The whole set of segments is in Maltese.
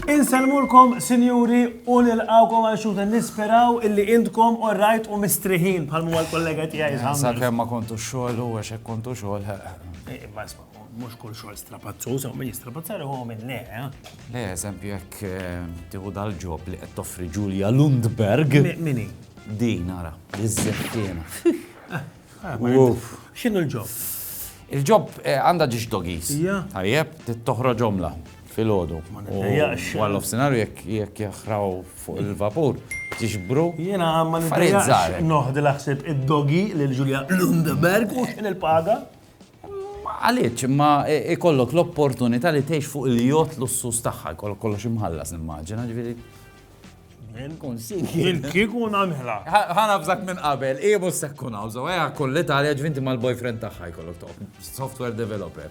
Insellmulkom, sinjuri, u nilqawkom għal xuta nisperaw illi intkom u rajt u mistriħin bħal mu għal kollega tijaj. Sakemm ma kontu xogħol u għax kontu xogħol. Mhux kull xogħol strapazzuż, hawn min jistrapazza ruħu minn le. Le, eżempju jekk tieħu dal-ġob li qed toffri Julia Lundberg. Mini? Din nara, iż-żeftiena. X'inhu l-ġob? Il-ġob għandha ġiex dogis. Tajjeb, tittoħroġhomla fil-ħodu. Għal of senarju jekk jaħraw fuq il-vapur, tixbru. Jena għamma nidrizzar. Noħdi laħseb id-dogi l-ġulja Lundeberg u xin il-paga. Għaliex? Imma jkollok l-opportunità li tgħix fuq il-jott lussuż tagħha, jkollok kollox imħallas nimmaġina, ġifieri. Jien kieku nagħmilha. Ħa nafżak minn qabel, hi mhux se tkun hawn, so ejja kull Italja ġvinti mal-boyfriend tagħha jkollok toqgħod. Software developer.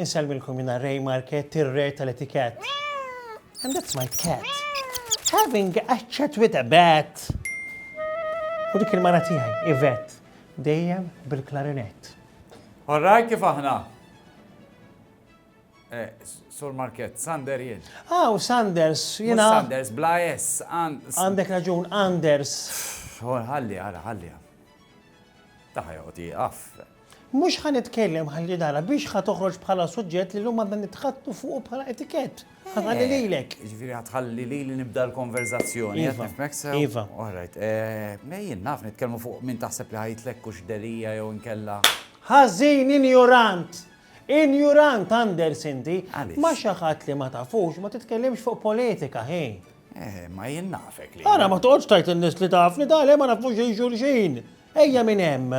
Insellmilkom jiena Ray Marchetti, r-re tal-etikett. And that's my cat. Having a chat with a bat. U dik il-mara tiegħi, Yvette, dejjem bil-klarinett. Orraj kif aħna? Eh, Sur Market, Sander jien. Ah, u Sanders, jina. Sanders, bla S. Għandek raġun, Anders. Ħalli, għara, ħalli. Taħja, għoti, għaf. Mhux ħa nitkellem ħalli nara biex ħa toħroġ bħala suġġett li llum għandna nitħaddtu fuqu bħala etikett. Ħa nħalli lilek. Jiġifieri ħa tħalli lili nibda l-konverżazzjoni, qed nifhmek sew? Iva. All right. Mela jien naf nitkellmu fuq min taħseb li ħa jitlekk hux Delia jew inkella. Ħażin, injurant! Injurant, Anders, inti! Għaliex? Ma' xi ħadd li ma tafux ma titkellimx fuq politika, hi! Eh, ma jien nafek li. Ara ma toqgħodx tgħid lin-nies li tafni, ta' le ma nafux xejn xulxin! Ejja minn hemm!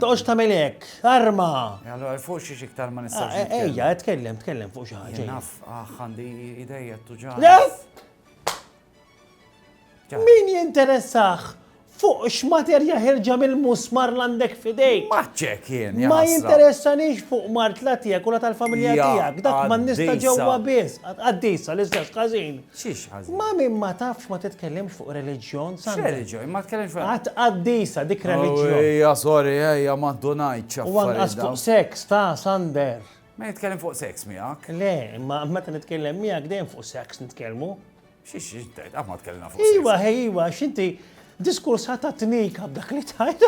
Toqgħodx tagħmel hekk! Arma! E allura fuq xiex iktar ma nistax ah, nitkellem. Ejja, tkellem, tkellem fuq xi ħaġa. Naf, ah, għandi idejja tuġa. Min jinteressax fuq x'materja ħirġa mill-musmar l-għandek fidejk. Maċċek jien. Ma jinteressanix fuq mart la tiegħek u la tal-familja tiegħek. Dak ma nista' ġewwa biss. Qaddisa l-istess każin. Xiex ħażin? Ma min ma tafx ma titkellimx fuq reliġjon, Sandra. X'reliġjon? Ma tkellimx fuq. Qatt qaddisa dik reliġjon. Ejja, sorry, ejja, ma ndunajtx affarijiet. U anqas fuq seks, ta, Sander. Ma nitkellem fuq seks miegħek. Le, imma meta nitkellem miegħek dejjem fuq seks nitkellmu. Xiex xiex tgħid, qatt ma tkellimna fuq seks. Iwa, ħej, iwa, x'inti diskursata tnika b'dak li tgħid.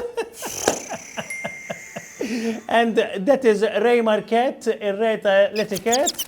And that is Ray Marquette, ir-re ta' l-etiket.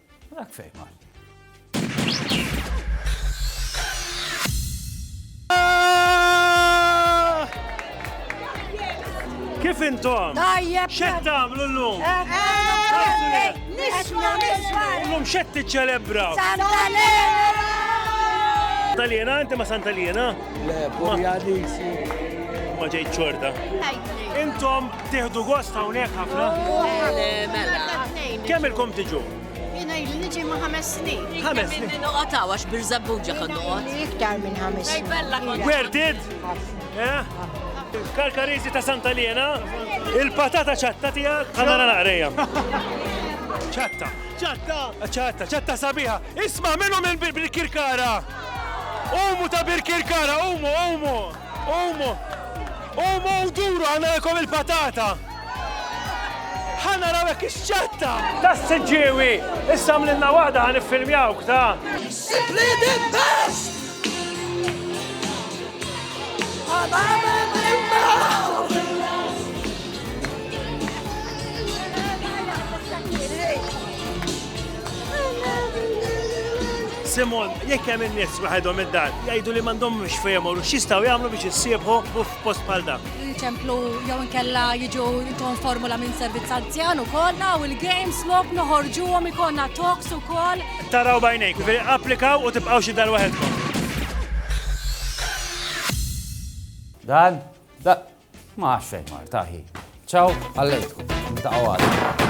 Dak fejn mar. Kif intom? Tajjeb. Xed tagħmlu llum? Eh, eh, nisma' nisma'. Llum xed tiċċelebra. Santalena! Santalena, inti ma Santalena? Le, Purjadisi. Ma ġejt ċorta. Intom Tieħdu gost hawnhekk ħafna? Mela. Kemm ilkom tiġu? Jiena jli niġi ma' ħames snin. Ħames snin. Noqgħod hawn għax birżabbuġa kon noqgħod. Iktar minn ħames snin. Werdid? Eh? Karkarizi ta' Santa Liena, il-patata ċatta tiegħek. Ħana naqrejja. ċatta. ċatta. ċatta, ċatta sabiħa. Isma' minnu minn Birkirkara. Umu ta' Birkirkara, umu, umu. Qumu! Qumu u duru ħa nagħmilkom il-patata! Ħa naraw hekk ix-xatta! Tas-Siġġiewi! Issa għamlilna waħda ħa niffilmjawk ta'. Simply the best! Simon, jekk hemm in-nies waħedhom id-dar, jgħidu li m'għandhom mhux fejn imorru, x'jistgħu jagħmlu biex issiebħu f'post bħal dak. Ċemplu jew inkella jiġu intom formula minn servizz anzjan ukoll u l-games lok noħorġuhom ikollna talks ukoll. Taraw bajnejk, applikaw u tibqgħu xi dar waħedkom. Dan, da, ma għaxfej mar, taħi. Ciao, għallejtku, ta' għal.